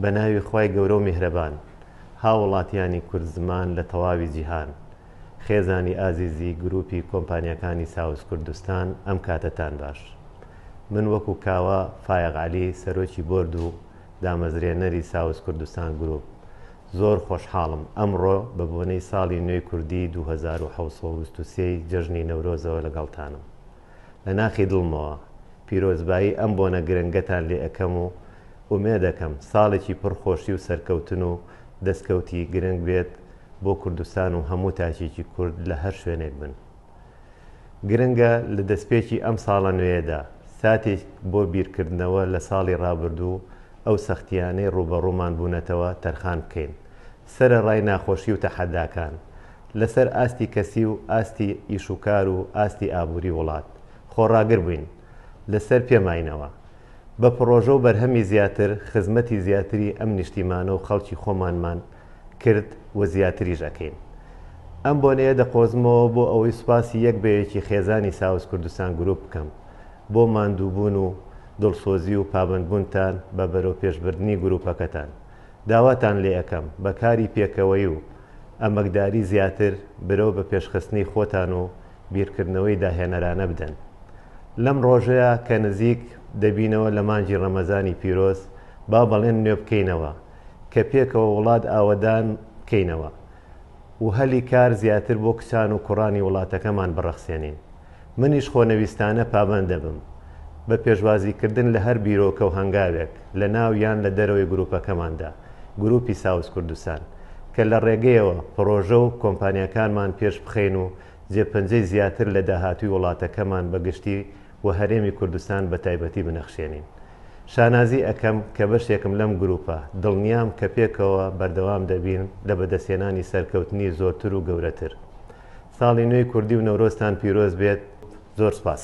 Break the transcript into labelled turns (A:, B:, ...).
A: بە ناوی خوای گەورە و میهرەبان، هاووڵاتییانی کوردزمان لە تەواوی جیهان، خێزانی ئازیزی گرووپی کۆمپانیاکانی ساوز کوردستان ئەم کاتەتان باش. من وەکوو کاوە فایەق عەلی سەرۆکی بۆرد و دامەزرێنەری ساوز کوردستان گرووپ زۆر خۆشحاڵم ئەمڕۆ بە بۆنەی ساڵی نوێی کوردیی دوو هەزار و حەوت سەد و بیست و سێ ی جەژنی نەورۆزەوە لەگەڵتانم. لە ناخی دڵمەوە پیرۆزبایی ئەم بۆنە گرنگەتان لێ ئەکەم و ئومێدەکەم ساڵێکی پڕ خۆشی و سەرکەوتن و دەستکەوتی گرنگ بێت بۆ کوردستان و هەموو تاکێکی کورد لە هەر شوێنێک بن. گرنگە لە دەستپێکی ئەم ساڵە نوێیەدا ساتێک بۆ بیرکردنەوە لە ساڵی ڕابردوو و ئەو سەختییانەی ڕووبەڕوومان بوونەتەوە تەرخان بکەین سەرەڕای ناخۆشی و تەحەداکان لەسەر ئاستی کەسی و ئاستی ئیش و کار و ئاستی ئابووری وڵات، خۆڕاگر بووین لەسەر پێماینەوە. بە پڕۆژە و بەرهەمی زیاتر خزمەتی زیاتری ئەم نیشتیمانە و خەڵکی خۆمانمان کرد و زیاتریش ئەکەین. ئەم بۆنەیە دەقۆزمەوە بۆ ئەوەی سوپاسی یەک بە یەکی خێزانی ساوز کوردستان گروپ بکەم بۆ ماندووبوون و دڵسۆزی و پابەندبوونتان بە بەرەوپێشبردنی گروپەکەتان. داواتان لێ ئەکەم بە کاری پێکەوەی و ئەمەکداری زیاتر برەو بە پێشخستنی خۆتان و بیرکردنەوەی داهێنەرانە بدەن لەم ڕۆژەیا کە نزیک دەبینەوە لە مانگی ڕەمەزانی پیرۆز با بەڵێن نوێ بکەینەوە کە پێکەوە وڵات ئاوەدان بکەینەوە و هەلی کار زیاتر بۆ کچان و کوڕانی وڵاتەکەمان بڕەخسێنین. منیش خۆنەویستانە پابەند دەبم بە پێشوازیکردن لە هەر بیرۆکە و هەنگاوێک لە ناو یان لە دەرەوەی گروپەکەماندا، گروپی ساوز کوردستان، کە لە ڕێگەیەوە پڕۆژە و کۆمپانیاکانمان پێشبخەین و جێپەنجەی زیاتر لە داهاتووی وڵاتەکەمان بە گشتی و هەرێمی کوردستان بە تایبەتی بنەخشێنین. شانازی ئەکەم کە بەشێکم لەم گروپە، دڵنیام کە پێکەوە بەردەوام دەبین لە بەدەستهێنانی سەرکەوتنی زۆرتر و گەورەتر. ساڵی نوێی کوردی و نەورۆزتان پیرۆز بێت، زۆر سپاس.